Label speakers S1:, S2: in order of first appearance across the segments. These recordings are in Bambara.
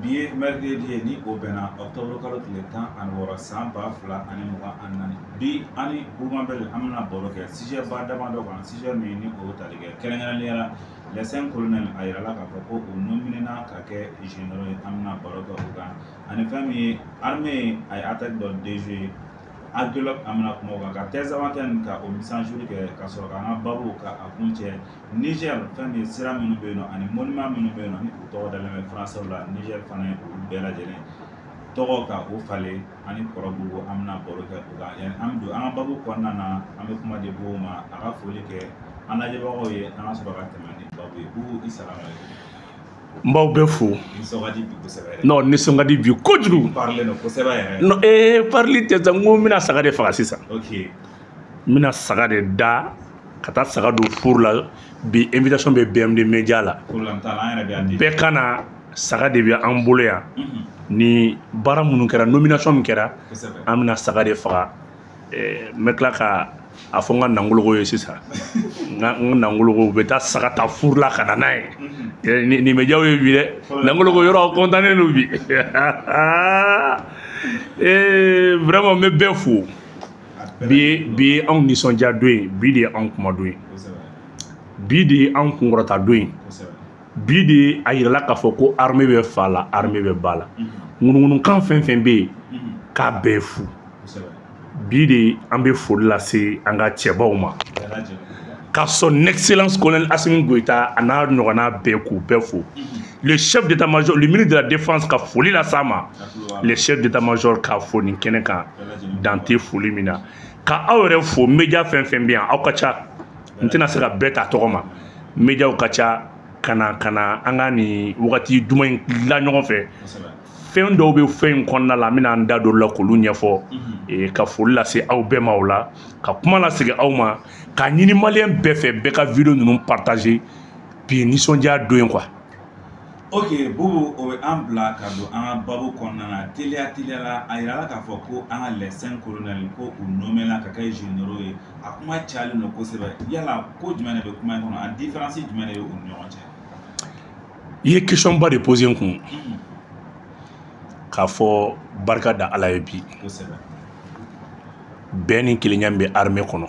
S1: bi ye mercredi ye ni o bɛnna ɔktɔburu kalo tile tan ani wɔɔrɔ san ba fila ani mugan ani naani bi an ni bubu mabɛli an bɛna baro kɛ sijɛba damadɔ kan sijɛ min ni o tali kɛ kɛrɛnkɛrɛnnenya la les cinq colonels a yirala k'a fɔ ko u nominena ka kɛ généraux ye an bɛna baro kɛ o kan ani fɛn min ye arme a ye ataki dɔ déjouer Aguelhok an bɛna kuma o kan ka Tinzawatɛni ka o mise à jour kɛ ka sɔrɔ k'an ka babu ka a kun cɛ Niger fɛn min sira minnu bɛ yen nɔ ani monument minnu bɛ yen nɔ ni u tɔgɔ dalen bɛ français la Niger fana ye olu bɛɛ lajɛlen tɔgɔ ka o falen ani kɔrɔbugu an bɛna baro kɛ o kan yani an bɛ don an ka babu kɔnɔna na an bɛ kuma di bubu ma a ka foli kɛ an lajɛbagaw ye an ka sɔrɔ ka tɛmɛ ni babu ye k'u i sara ma n b'aw bɛɛ fo non nisɔn ka di bi kojugu ee parili tɛ sa n ko n bɛna saga de faga sisan n bɛna saga de da ka taa saga don furu la bi invitation bɛ bmd media la bɛɛ ka na saga de bɛ an bolo yan mhm. ni baara minnu kɛra nomination min kɛra an bɛna saga de faga eh, n bɛ tila ka a fɔ n ka nangologo ye sisan n ka nangologo u bɛ taa saga ta furu la ka na n'a ye mhm. eh, nin bɛ jaw ye bi dɛ nangologo yɔrɔ aw kɔntannen don bi eh, vraiment n bɛ bɛɛ fo bi bi ye anw nisɔndiya don ye bi de ye anw kuma don ye bi de ye anw kunkɔrɔta don ye bi de ye a yirala k'a fɔ ko arme bɛ fa la arme bɛ ba la ŋunuŋunukan fɛn fɛn bɛ yen k'a bɛɛ fu bi de an bɛ foli lase an ka cɛbaw ma ka son excellence colonel asimi goyita a n'a ɲɔgɔnna bɛɛ k'u bɛɛ fo le chef d'état major le ministre de la défense ka foli las'a ma le chef d'état major k'a fo nin kɛnɛ kan dan tɛ foli min na ka aw yɛrɛ fo media fɛn fɛn bɛ yan aw ka ca n tɛna se ka bɛɛ ta tɔgɔ ma mediaw ka ca ka na ka na an ka nin wagati duman in la ɲɔgɔn fɛ fɛn dɔw bɛ fɛn in kɔnɔna la n bɛna n da don olu la k'olu ɲɛfɔ mhm. ka foli lase aw bɛɛ ma o la ka kuma lasegin aw ma k'a ɲini maliyɛn bɛɛ fɛ bɛɛ ka video ninnu partage bi nisɔndiya don ye quoi ok bubu o bɛ an bila ka don an ka babu kɔnɔna na teliya teliya la a yirala k'a fɔ ko an ka les cinq colonels ko u nɔmela ka kɛ généraux ye a kuma cayalen don kosɛbɛ yala ko jumɛn de bɛ kuma in kɔnɔ ani diferansi jumɛn de bɛ u ni ɲɔgɔn cɛ i ye questionba de pose n kun k'a fɔ barika da ala ye bi kosɛbɛ bɛn ni kelenya bɛ armée kɔnɔ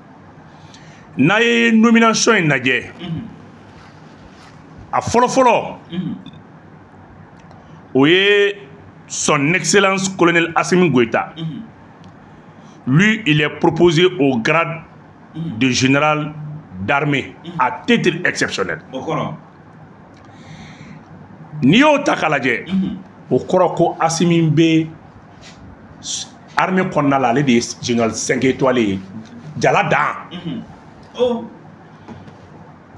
S1: n'a ye nomination in lajɛ a fɔlɔfɔlɔ o ye son excellence colonel asimi goita lui il est proposé au grade de général d'armée à titre exceptionnel n'i y'o ta k'a lajɛ o kɔrɔ ko asimi bɛ armée kɔnɔna la ale de ye général 5 étoile ye jala dan mhm. oh.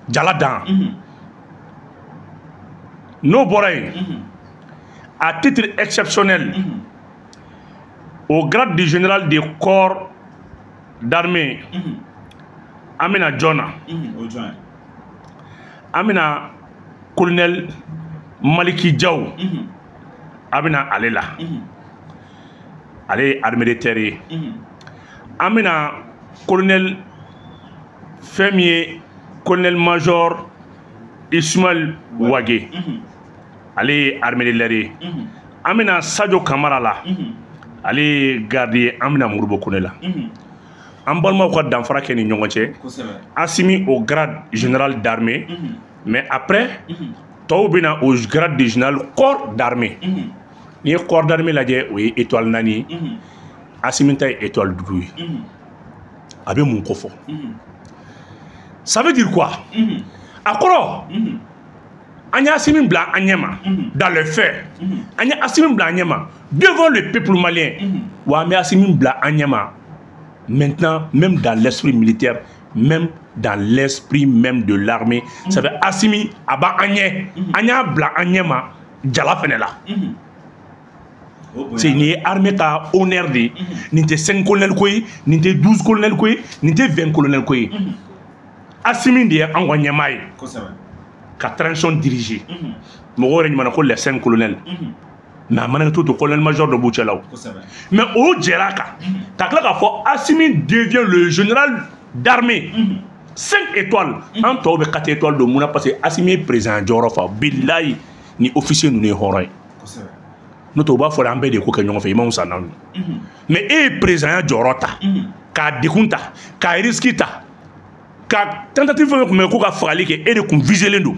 S1: jala dan mhm. n'o bɔra yen mhm. à titre exceptionnel au grade du général de corps d'armée an bɛ na jɔn na an bɛ na colonel maliki jaw an bɛ na ale la ale ye armée de terre ye an bɛ na colonel fɛn min ye colonel major ismail wage ale ye armée de l'air ye an bɛ na sajo kamara la ale ye garde ye an bɛ na modibo kone la an balimaw ka danfara kɛ ni ɲɔgɔn cɛ asimi au grade général d'armée mais après tɔw bɛ na au grade de général corps d'armée n'i ye corps d'armée lajɛ o ye étoile naani ye asimi ta ye étoile duuru ye a bɛ mun kɔfɔ ça veut dire quoi a kɔrɔ an ye asimi bila an ɲɛ ma dans le fait an ye asimi bila an ɲɛ ma devant le peuple malien wa an bɛ asimi bila an ɲɛ ma maintenant même dans l'esprit militaire même dans l'esprit même de l'armée ça fait Assimi a b'an ɲɛ an y'a bila an ɲɛ ma jala fɛnɛ la c'est nin ye armée ka honneur de ye nin tɛ cinq colonel ko ye nin tɛ douze colonel ko ye nin tɛ vingt colonel ko ye Assimi de ye an ka ɲɛmaa ye ka transition diriger mɔgɔw yɛrɛ ɲuman na ko les cinq colonels mais a mana to to colonel major dɔ b'u cɛ la o mais u jɛra kan ka tila k'a fɔ asimi devient le général d'armée mhm. cinq étoiles mhm. an tɔw bɛɛ quatre étoiles don mun na parce que asimi ye présidenya jɔyɔrɔ fa bilayi ni officier ninnu ye hɔrɔn ye n'o tɛ u b'a fɔ an bɛɛ de ko kɛ ɲɔgɔn fɛ i man fisa n'anw ye mhm. mais e ye présidenya jɔyɔrɔ ta k'a degun ta k'a risque ta ka tentative fɛn o fɛn tun bɛ ko ka fagali kɛ e de tun viselen don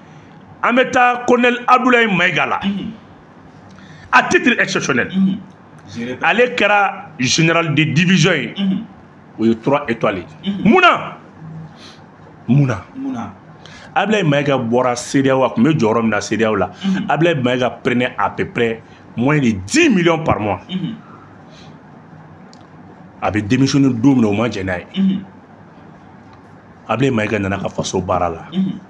S1: an bɛ taa colonel abdoulaye mayiga la à titre exceptionnel ale kɛra général de division ye o ye trois étoiles ye mun na mun na abdoulaye mayiga bɔra cedeao a kun bɛ jɔyɔrɔ min na cedeao la abdoulaye mayiga prenait à peu près moins de 10 millions par mois a bɛ démissionner don min na u ma jɛn n'a ye abdoulaye mayiga nana a ka faso baara la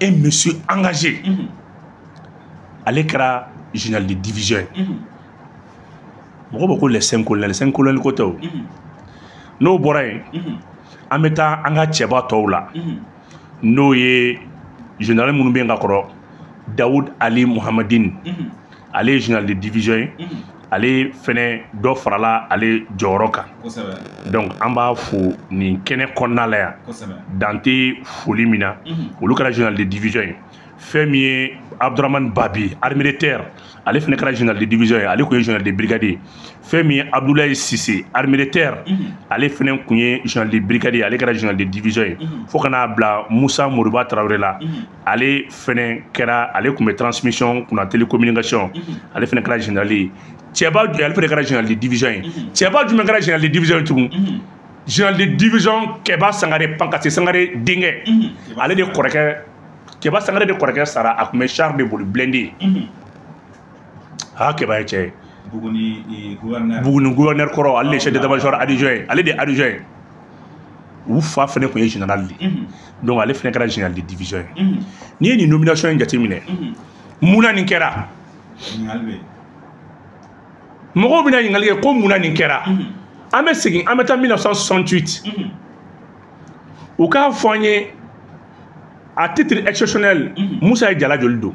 S1: e monsieur engagé mhm. ale kɛra général de division ye mhm. mɔgɔ bɛɛ ko les cinq colonels les cinq colonels ko tɛ o mhm. n'o bɔra yen an bɛ taa an ka cɛba tɔw la n'o ye général minnu bɛ yen ka kɔrɔ dawud ali muhamadin ale ye général de division ye mhm. ale fɛnɛ dɔ farala ale jɔyɔrɔ kan donc an b'a fo nin kɛnɛ kɔnɔna la yan dan tɛ foli min na mhm. olu kɛra général de division ye fɛn min ye abdurahamani babi armée de terre ale fɛnɛ kɛra général de division ye ale kun ye général de brigade ye fɛn min ye abdoulaye sise armée de terre mhm. ale fɛnɛ kun ye général de brigade ye ale kɛra général de division ye fo ka n'a bila musa moriba tarawele la ale fɛnɛ kɛra ale kun bɛ transmission kunna télécommunication ale fɛnɛ kɛra général ye cɛba ale fɛnɛ kɛra général de division ye cɛba jumɛn kɛra général de division ye tugun général de division kɛba sangare pangasi sangare denkɛ ale de kɔrɔkɛ kɛba sangare de kɔrɔkɛ sara a kun bɛ char de boli blindé aa kɛba ye cɛ ye buguni gouverneur kɔrɔ ale de chef d'état major adjoint ye ale de adjoint ye u fa fɛnɛ kun ye général de ye donc ale fana kɛra général de division ye mhm. n'i ye nin nomination in jateminɛ mhm. mun na nin kɛra mɔgɔw bɛna ɲininkali kɛ ko mun na nin kɛra mhm. an bɛ segin an bɛ taa 1968 u k'a fɔ an ye à titre exceptionnel musa ye jala joli don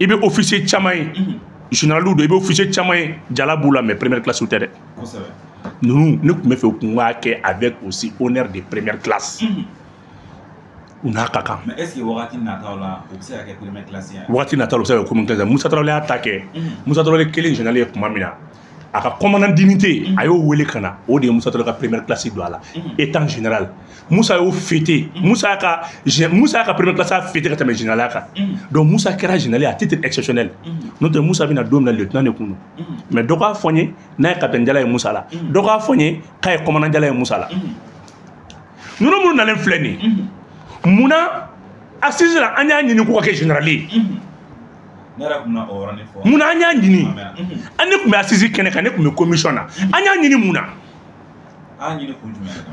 S1: i bɛ officier caman ye général don i bɛ officier caman ye jala b'u la mais première classe tɛ dɛ ninnu ne kun b'a fɛ u kun k'a kɛ avec aussi honneur de première classe u n'a ka kan wagati nataw la u bɛ se ka kɛ komi musa tarawele y'a ta kɛ musa tarawele kɛlen général ye kuma min na a ka commandant d'unité mm-hmm. a y'o wele ka na o de ye musa tarawele ka première classe don a la mm-hmm. étant général musa y'o fêter mm-hmm. musa ka musa y'a ka première classe a fêter ka tɛmɛ généralya kan donc musa kɛra général à titre exceptionnel n'o tɛ musa bɛ na don min na lieutenant de kun don mais dɔ k'a fɔ n ye n'a ye capitaine jala ye musa la dɔ k'a fɔ n ye k'a ye commandant jala ye musa la ninnu minnu nalen filɛ nin ye munna assises la an y'a ɲini k'u ka kɛ général ye mun na an y'a ɲini an ne tun bɛ assises kɛnɛ kan ne tun bɛ commission na an y'a ɲini mun na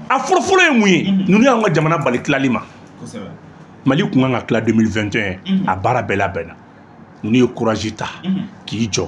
S1: a fɔlɔfɔlɔ ye mun ye ninnu y'an ka jamana bali tilali ma Mali tun kan ka tila 2021 a baara bɛɛ labɛnna ninnu ye courage ta k'i jɔ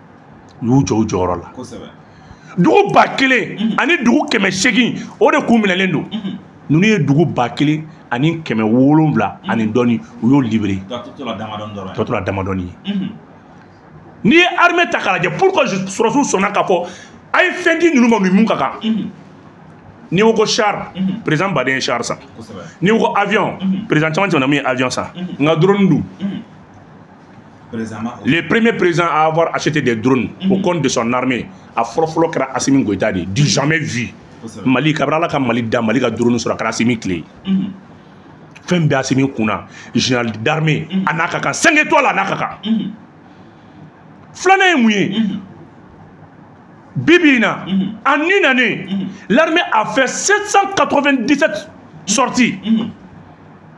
S1: u y'u jɔ u jɔyɔrɔ la dugu ba kelen mhm. ani dugu kɛmɛ seegin o de tun minɛlen don mhm. ninnu ye dugu ba kelen ani kɛmɛ wolonwula mhm. ani dɔɔni u y'o libéré tɔ tola damadɔni ye n'i ye armée ta k'a lajɛ pour que sɔrɔsiw sɔnna k'a fɔ a ye fɛn di ninnu ma u ni min ka kan n'i ko ko char président bɛɛ de ye char san n'i ko ko avion président caman tɛmɛna min ye avion san nka drone dun Le premier président à avoir acheté des drones mm -hmm. au compte de son armée a fɔlɔfɔlɔ kɛra Assimi Goïta de du jamais vu Mali kabini Ala ka Mali da Mali ka drone sɔrɔ a kɛra Assimi tile mhm. fɛn bɛ Assimi kun na général d'armée mhm. a n'a ka kan cinq étoiles a n'a ka kan mhm. filanan ye mun ye bi bi in na en une année l'armée a fait 797 sorties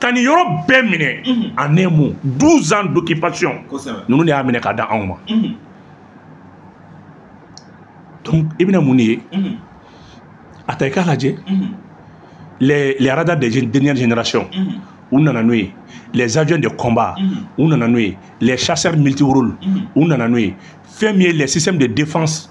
S1: ka nin yɔrɔ bɛɛ minɛ a ne mun 12 ans d'occupation ninnu de y'a minɛ k'a d'anw ma donc i bɛna mun de ye a ta i k'a lajɛ les les radars des dernières générations u nana n'o ye les avions de combat u nana n'o ye les chasseurs multirôles u nana n'o ye fɛn min ye les systèmes de défense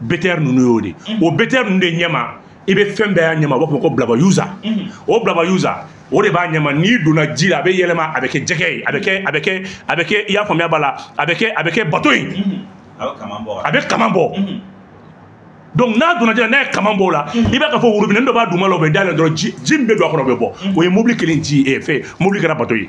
S1: BTR ninnu y'o de o BTR ninnu de ɲɛma i bɛ fɛnba y'a ɲɛma u b'a f'a ma ko bilaba yuza o bilaba yuza o de b'a ɲɛma n'i donna ji la a bɛ yɛlɛma a bɛ kɛ jɛgɛ ye a bɛ kɛ a bɛ kɛ a bɛ kɛ i y'a faamuya b'a la a bɛ kɛ a bɛ kɛ bato ye a bɛ kaman bɔ donc n'a donna ji la n'a ye kaman bɔ o la i b'a k'a fɔ robinet dɔ b'a duguma la o bɛ dayɛlɛ dɔrɔn ji min bɛ don a kɔnɔ o bɛ bɔ o ye mobili kelen ji ye fɛ mobili kɛra bato ye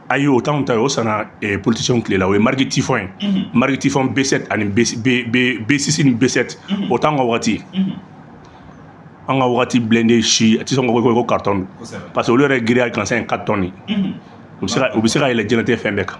S1: ayi o t'anw ta ye o sanna eh, politicienw tile la o ye marque Typhoon ye mm -hmm. marque Typhoon b7 ani b6 ni b7 mm -hmm. o t'anw ka wagati ye mm -hmm. an ka wagati blindé si tɛ sɔgɔ i ko carton don parce que olu yɛrɛ giriya gansan ye 4 tonnes ye u bɛ se ka yɛlɛ diɲɛnatigɛ fɛn bɛɛ kan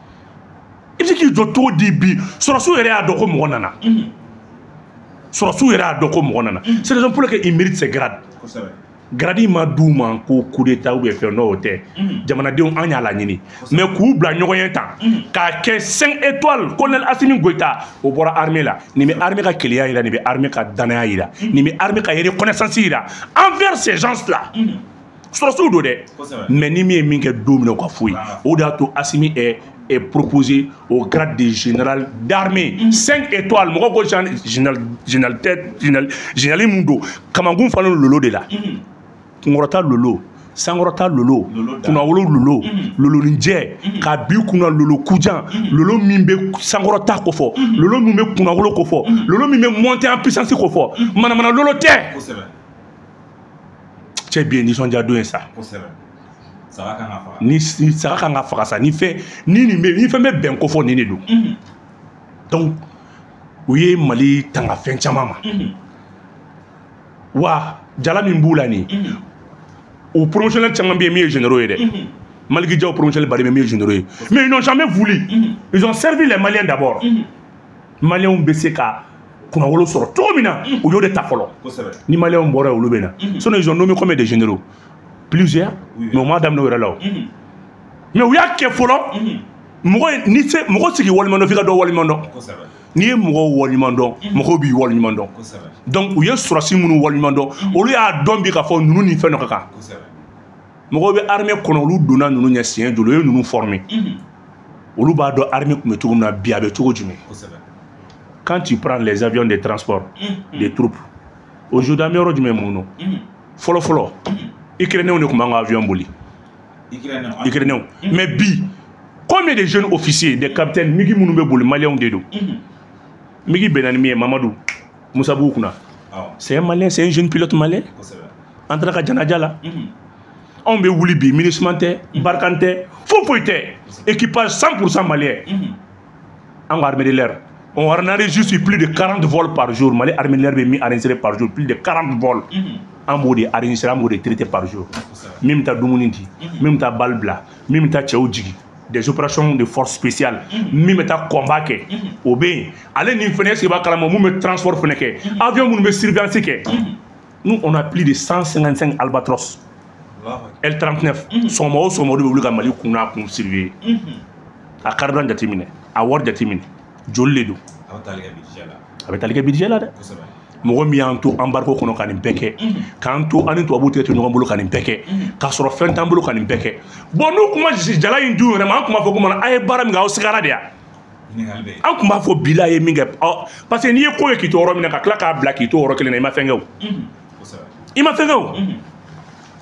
S1: i bɛ se k'i jɔ cogo di bi sɔrɔsiw yɛrɛ y'a dɔn ko mɔgɔ nana sɔrɔsiw yɛrɛ y'a dɔn ko mɔgɔ nana c'est raison pour laquelle ils méritent ces grades grade ma d'u ma ko coup d'état ou fɛn n'o tɛ jamanadenw an y'a laɲini mais k'u bila ɲɔgɔn ɲɛ tan k'a kɛ 5 étoiles colonel Assimi Goïta o bɔra armée la nin bɛ armée ka kelenya jira nin bɛ armée ka danaya jira nin bɛ armée ka reconnaissance jira envers ces gens là sɔrɔsiw don dɛ mais ni min ye min kɛ don min na o ka foyi o de y'a to asimi est proposé au grade de général d'armée. 5 mm. étoiles, mɔgɔ ko général général mun don kamankun fana lolo de la. Mm. Kunkɔrɔta lolo. sankɔrɔta lolo kunnawolo lolo mm-hmm. loloninjɛ mm-hmm. k'a bi kunna lolo kujan mm-hmm. lolo min bɛ sankɔrɔta kofɔ lolo min bɛ kunnawolo kofɔ lolo min bɛ monter en puissance kofɔ manamana lolo tɛ cɛ bi ye nisɔndiya don ye sa saga kan ka faga ni saga kan ka faga sa ni fɛn ni nin bɛ ni fɛn bɛ bɛn kofɔ nin de don mhm. donc u ye mali tanga fɛn caman ma mhm. wa jala min b'u la nin mhm. u promotionnel caman bɛ yen min ye généraux ye dɛ maliki jaw promotionnel bari bɛ min ye généraux ye mais ils n'ont jamais voulu ils ont servi les maliens d'abord maliyɛnw bɛ se ka kunnawolo sɔrɔ cogo min na u y'o de ta fɔlɔ ni maliyɛnw bɔra olu bɛ na sinon ils ont nommé combien de généraux plusieurs mais u m'a daminɛ u yɛrɛ la o mais u y'a kɛ fɔlɔ mɔgɔ ni se mɔgɔ si k'i waleɲuman dɔn f'i ka dɔ waleɲuman dɔn n'i ye mɔgɔw waleɲuman dɔn mɔgɔw b'i waleɲuman dɔn donc u ye sɔrɔsi minnu waleɲuman dɔn olu y'a dɔn bi k'a fɔ ninnu ni fɛn dɔ ka kan mɔgɔw bɛ armée kɔnɔ olu donna ninnu ɲɛ siɲɛ joli u ye ninnu former olu b'a dɔn armée tun bɛ cogo min na bi a bɛ cogo jumɛn quand tu prends les avions de transport mm. des troupes aujourd'hui an bɛ yɔrɔ jumɛn mun don fɔlɔ fɔlɔ ukrainenw de tun b'an ka avion boli ukrainenw mais bi combien de jeunes officiers des capitaines migi minnu bɛ boli maliyɛnw de don migi binna ni min ye mamadu misabugu kunna c'est un malien c'est un jeune pilote malien an taara a ka janaja la mhm. anw bɛ wuli bi minusma tɛ mhm. barkhane tɛ foyi foyi tɛ équipage 100 pourcent malien mhm. an ka armée de l'air on a enregistré plus de 40 vols par jour mali armée de l'air bɛ min enregistré par jour plus de 40 vols an b'o de enregistré an b'o de traité par jour min bɛ taa dumuni di min bɛ taa balle bila min bɛ taa cɛw jigin des opérations de force spéciale mhm. min bɛ taa combat kɛ mhm. o bɛ yen ale nin fana est-ce qu'i b'a kalama min bɛ transport fana kɛ mhm. avion minnu bɛ surveillance kɛ nous on a plus de 155 albatros L39 sɔgɔma o sɔgɔma o de bɛ wuli ka Mali kun n'a kun surveiller a carburant jateminɛ a wari jateminɛ joli de don a bɛ tali kɛ budget la dɛ. mɔgɔ min y'an to embargo kɔnɔ ka nin bɛɛ kɛ k'an to an ni tubabu tɛgɛ tɛ ɲɔgɔn bolo ka nin bɛɛ kɛ k'a sɔrɔ fɛn t'an bolo ka nin bɛɛ kɛ bon n'u tun ma jala in d'u yɛrɛ ma an tun b'a fɔ ko mana a ye baara min kɛ aw sigara de yan an tun b'a fɔ bila a ye min kɛ parce que n'i ye ko ye k'i to yɔrɔ min na ka tila k'a bila k'i to yɔrɔ kelen na i ma fɛn kɛ o i ma fɛn kɛ o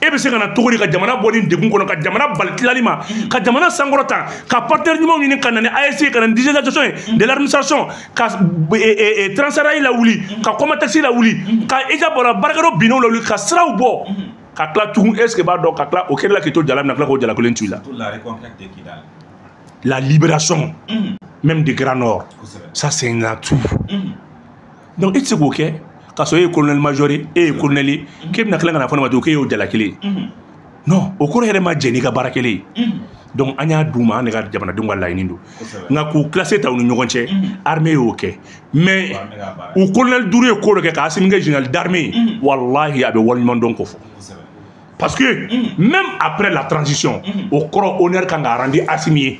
S1: e bɛ se ka na cogo di ka jamana bɔ nin degun kɔnɔ ka jamana bali tilali ma ka jamana sankɔrɔta ka partenaire ɲumanw ɲini ka na ni AES ka na ni digitalisation ye de l'administration ka e, e, e, Transrail lawuli ka COMATEX lawuli ka i ka bɔra baarakɛyɔrɔ binnenw lawuli ka siraw bɔ ka tila tugun est ce que b'a dɔn ka tila o kɛlɛ la k'i to jala min na tila k'o jala kelen to i la la libération même de grand nord ça c'est un atout donc i tɛ se k'o kɛ k'a sɔrɔ e ye colonel major ye e ye colonel ye k'e bɛna tila ka na fɔ ne ma tugun k'e y'o jala kelen ye non o kɔrɔ yɛrɛ ma jɛ n'i ka baara kɛlen ye donc an y'a d'u ma an de ka jamanadenw ka laɲini don nka k'u classe ta u ni ɲɔgɔn cɛ armée y'o kɛ mais u colonel duuru ye ko dɔ kɛ ka asimi kɛ général d'armée ye walahi a bɛ waleɲumandɔn kofɔ parce que même après la transition o kɔrɔ honneur kan ka rendre asimi ye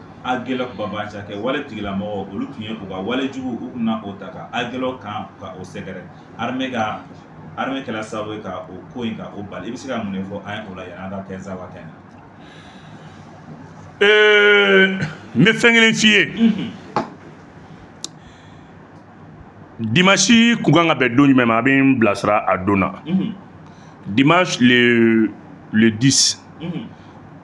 S1: a gɛlɛ kunba ca kɛ wale tigilamɔgɔ olu tun ye u ka walejugu u tun na o ta ka a gɛlɛ kan ka o sɛgɛrɛ arime ka arime kɛla sababu ye ka o ko in ka o bali i bɛ se ka mun de fɔ an ye o la yanni an ka Tinzawatɛn na n bɛ fɛn kelen f'i ye dimanche tun kan ka bɛn don jumɛn ma a bɛ n bilasira a donna dimanche le le 10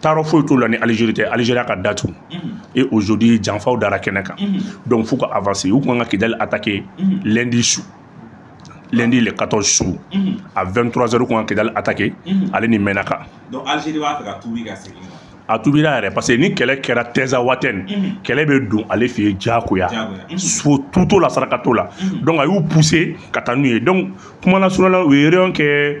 S1: taarɔ foyi t'o la ni alizeri tɛ alizeriya ka datu e aujourd'hui janfaw dara kɛnɛ kan donc f'u ka avanse u tun ka kidali atake lendi su lendi le 14 su a 23 heures u tun ka kidali atake ale ni mɛnaka a tubira yɛrɛ parce que ni kɛlɛ kɛra Tinzawatɛn kɛlɛ bɛ don ale fɛ yen jagoya so tuto la saraka t'o la donc a y'u pousser ka taa n'u ye donc kuma lasurunya la u ye réunion kɛ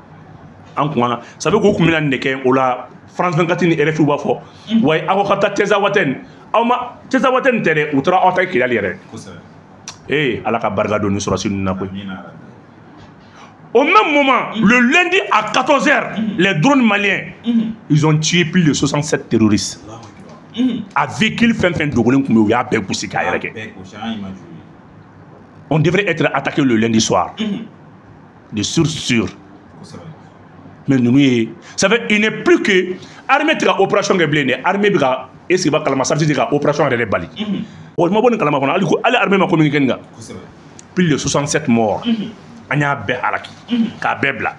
S1: an kun na sabu k'u tun bɛna nin de kɛ o la france 24 ni rfi b'a fɔ mm. wa aw ka taa Tinzawatɛn aw ma Tinzawatɛn ta dɛ u taara aw ta kidali yɛrɛ ee ala ka barika don ni sɔrɔdasi ninnu na koyi Au même moment, mm. le lundi à 14h, mm. les drones maliens, mm. ils ont tué plus de 67 terroristes. A véhicule fɛn fɛn dogolen tun bɛ yen u y'a bɛɛ gosi k'a yɛrɛkɛ. On devrait être attaqué le lundi soir. de source sûre mais ninnu ye ça fait il n'est plus que armée tɛ ka opération kɛ bilen dɛ armée bɛ ka est ce que b'a kalama sariti tɛ ka opération yɛrɛ de bali mɔgɔ ma bɔ nin kalama fɔlɔ hali ko hali armée ma communiquer nin kan plus de 67 morts an y'a bɛɛ halaki k'a bɛɛ bila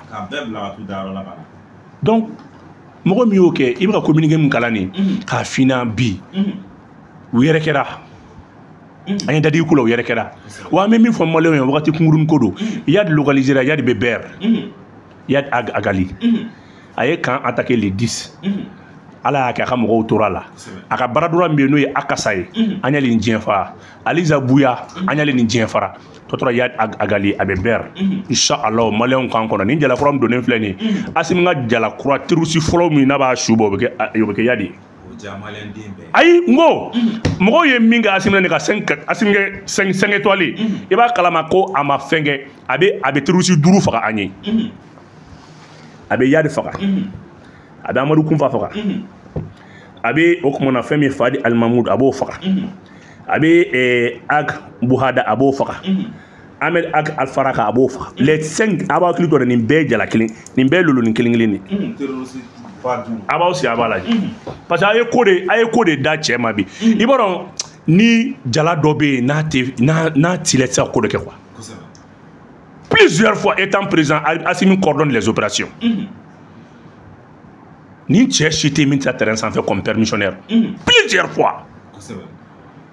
S1: donc mɔgɔ min y'o kɛ i bɛ ka communiquer min kalan nin k'a finan bi u yɛrɛkɛra an ye dadi ko la o yɛrɛ kɛra wa an bɛ min fɔ maliyɛnw ye wagati kunkuruni ko don yadi localisera yadi bɛ bɛr yadi agali a ye camp attaqué le 10 ala y'a kɛ a ka mɔgɔw tora a la a ka bras droit min bɛ yen n'o ye akasa ye an y'ale ni diɲɛ fara aliza buya an y'ale ni diɲɛ fara tɔ tora yadi agali a bɛ bɛr insha allah maliyɛnw k'an kɔnɔ nin jalakura min donnen filɛ nin ye asimi ka jalakura terɔrisi fɔlɔ min n'a b'a su bɔ o bɛ kɛ yadi ye ayi n ko mɔgɔw ye min kɛ asimi na n'a ka cinq étoiles i b'a kalama ko a ma fɛn kɛ a bɛ a bɛ terɔrisi duuru faga an ye a bɛ yadi faga a bɛ amadu kunfa faga a bɛ o kumana fɛn min fadi alimamudu a b'o faga a bɛ ag buhada a b'o faga an bɛ alifara kan a b'o faga les cinq a b'a hakili to dɛ nin bɛɛ ye jala kelen nin bɛɛ ye lolonin kelen kelen de a b'aw sigi a b'a lajɛ parce que a ye ko de a ye ko de da cɛ ma bi i b'a dɔn ni jala dɔ bɛ yen n'a tɛ n'a n'a t'i la i tɛ se ka ko dɔ kɛ quoi plusieurs fois étant président Assimi coordonne les opérations nin cɛ si tɛ yen min tɛ taa terrain sanfɛ comme permissionnaire plusieurs fois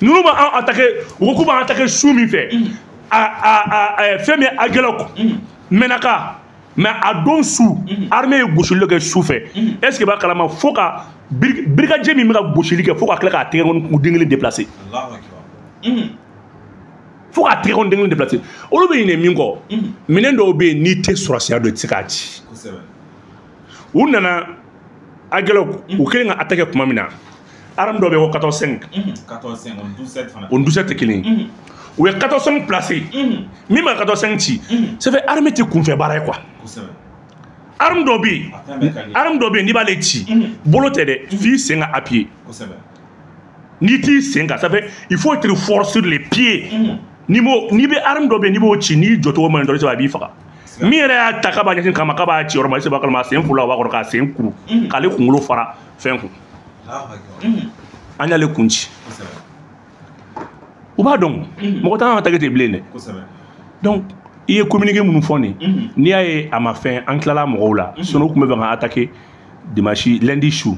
S1: ninnu b'an atake u ko k'u b'an atake su min fɛ mm. a a a fɛn min ye agɛlɔki mm. mɛnaka mais a don su mm. armée ye gosili dɔ kɛ su fɛ est ce que i b'a kalama fo ka brigadier min bɛ ka gosili kɛ fo ka tila k'a tɛgɛ kɔni den kelen déplacer fo k'a tɛgɛ kɔni den kelen déplacer olu bɛ ɲinɛ min kɔ minɛn dɔw bɛ yen n'i tɛ sɔrɔdasiya dɔn i tɛ se k'a ci. u nana agɛlɔki u kelen ka attaquer kuma min na arme dɔ bɛ ko 14.5 o ni 12.7 tɛ kelen ye u ye 14.5 placer min bɛ se ka 14.5 ci ça fait arme tɛ kunfɛ baara ye quoi arme dɔ bɛ yen arme dɔ bɛ yen n'i b'ale ci bolo tɛ dɛ f'i sen ka appuyer n'i t'i sen ka ça fait il faut être fort sur les pieds mm-hmm. n'i m'o n'i bɛ arme dɔ bɛ n'i b'o ci n'i jɔcogo man ɲi dɔrɔn a b'i faga min yɛrɛ y'a ta k'a b'a ɲɛsin kama k'a b'a ci yɔrɔ ma est ce i b'a kalama a sen fula o b'a kɔrɔ k'a sen kuru mm-hmm. k'ale kunkolo fara fɛn kun mm-hmm. an y'ale kun ci u b'a dɔn mɔgɔ t'an attaquer ten bilen dɛ donc i ye communiqué minnu fɔ nin n'i y'a ye a ma fɛn an tilala mɔgɔw la sinɔn u tun bɛ fɛ ka attaquer dimanche lundi su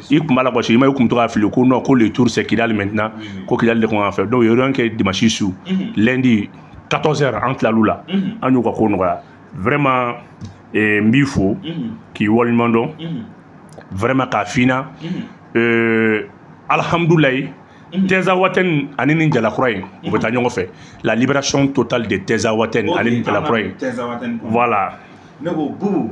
S1: i kun b'a la kɔsi i ma i kun to ka fili ko non ko le tour c'est kidali maintenant ko kidali de kun kan fɛ donc yɔrɔ kɛ dimanche su mhm. lundi 14 heures an tilal'u la mhm. an y'u ka ko nɔgɔya vraiment eh, n b'i fo mhm. k'i waleɲuman dɔn vraiment k'a fina eh, alhamdulayi tinzawatɛni ani ni jalakura ye u bɛ taa ɲɔgɔn fɛ la libération totale de tinzawatɛni ani ni jalakura ye voilà ne ko bubu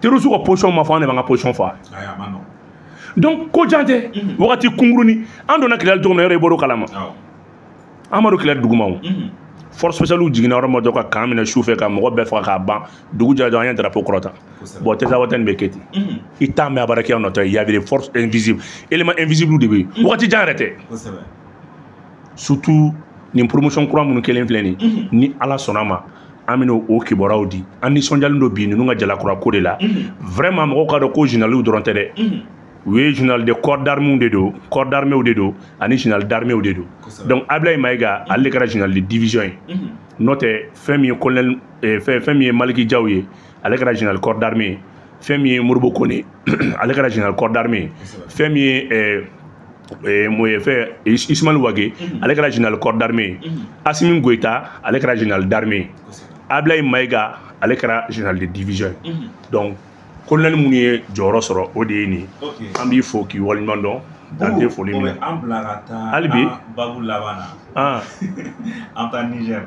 S1: terroriste ka position ma fɔ an de b'an ka position fɔ donc ko jan tɛ wagati kunkuruni an donna kidali cogo min na yɔrɔ i bɔr'o kalama amadu kɛlɛ dugumaw force spéciale jiginna yɔrɔ ma dɔn ka camp minɛ su fɛ ka mɔgɔ bɛɛ faga k'a ban dugu jɛra dɔrɔn an ye drapeau kɔrɔta bon tinzawatɛni bɛ kɛ ten i t'a mɛn a baara kɛra nɔtɔ il y avait des forces invisibles éléments invisibles de bɛ yen wagati jan yɛrɛ tɛ surtout nin promotion kura minnu kɛlen filɛ nin ni ala sɔnna ma an bɛna o kibaruyaw di an nisɔndiyalen don bi ninnu ka jala kura ko de la mhm. vraiment mɔgɔw k'a dɔn ko généralw dɔrɔn tɛ dɛ mhm. u ye général de corps d'armew de don corps d'armew de don ani général d'armew de don donc ablayi mayiga mhm. ale de kɛra général de division ye n'o tɛ fɛn min ye colonel eh, fɛn min ye maliki jaw ye ale kɛra général corps d'armée ye fɛn min ye modibo kone ale kɛra général corps d'armée ye fɛn min ye eh, eh, moye fɛn ismail wage mhm. ale kɛra général corps d'armée ye mhm. asimi goyita ale kɛra général d'armée ye ablayi mayiga ale kɛra général de division ye mhm. donc kolonɛli minnu ye jɔyɔrɔ sɔrɔ o de ye nin an b'i fo k'i waleɲuman dɔn dan tɛ foli min na hali bi an bɛ taa nizɛri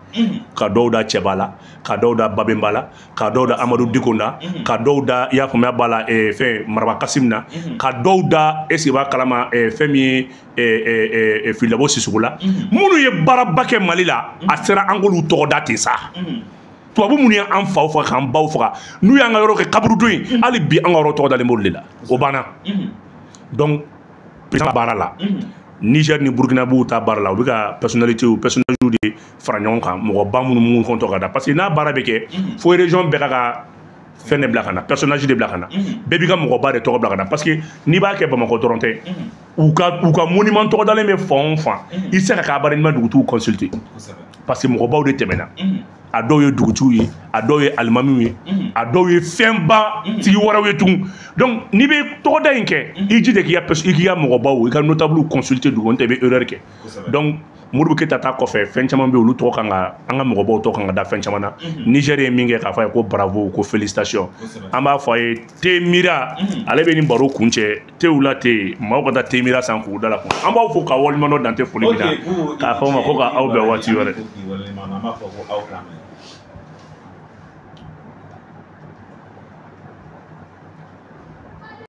S1: ka dɔw da cɛba la ka dɔw da babenba la ka dɔw da amadu diko na mhm. ka dɔw da i y'a faamuya b'a la eh, fɛn maraba kasum na mhm. ka dɔw da est-ce que i b'a kalama eh, fɛn min ye eh, fili dabo sisɔkɔ la mhm. minnu ye baaraba kɛ mali la a sera an k'olu tɔgɔ da ten sa tubabu minnu y'an faw faga k'an baw faga n'u y'an ka yɔrɔ kɛ kaburudo ye hali bi an ka yɔrɔ tɔgɔ dalen b'olu de la o banna donc president baara la niger ni burkina b'u ta baara la u bɛ ka personnalité u personnage de fara ɲɔgɔn kan mɔgɔba minnu minnu tɔgɔ ka da parce que n'a baara bɛ kɛ fo région bɛɛ ka ka fɛn de bila ka na personnage de bila ka na bɛɛ b'i ka mɔgɔba de tɔgɔ bila ka na parce que n'i b'a kɛ bamakɔ dɔrɔn tɛ u ka u ka monument tɔgɔdalen bɛ fan o fan i tɛ se ka k'a baara n'i ma dugutigiw consulter parce que mɔgɔbaw de tɛmɛna a dɔw ye dugutigiw ye a dɔw ye alimamiw ye mhm. a dɔw ye fɛnba mhm. tigi wɛrɛw ye tugun donc n'i bɛ tɔgɔda in kɛ mhm. i jija k'i ka i k'i ka mɔgɔbaw i ka notable consulter dugu n'o tɛ i bɛ erreur kɛ donc modibo keyita ta kɔfɛ fɛn caman bɛ olu tɔgɔ kan ka an ka mɔgɔbaw tɔgɔ kan ka da fɛn caman na niger ye min kɛ k'a fɔ a ye ko bravo ko félicitation an b'a fɔ a ye te mira ale bɛ nin baro kuncɛ tew la te maaw ka taa te mira san k'u da la kun an b'aw fo k'aw waleɲuman dɔn dan tɛ foli min na k'a fɔ aw ma ko k'an bɛn waati wɛrɛ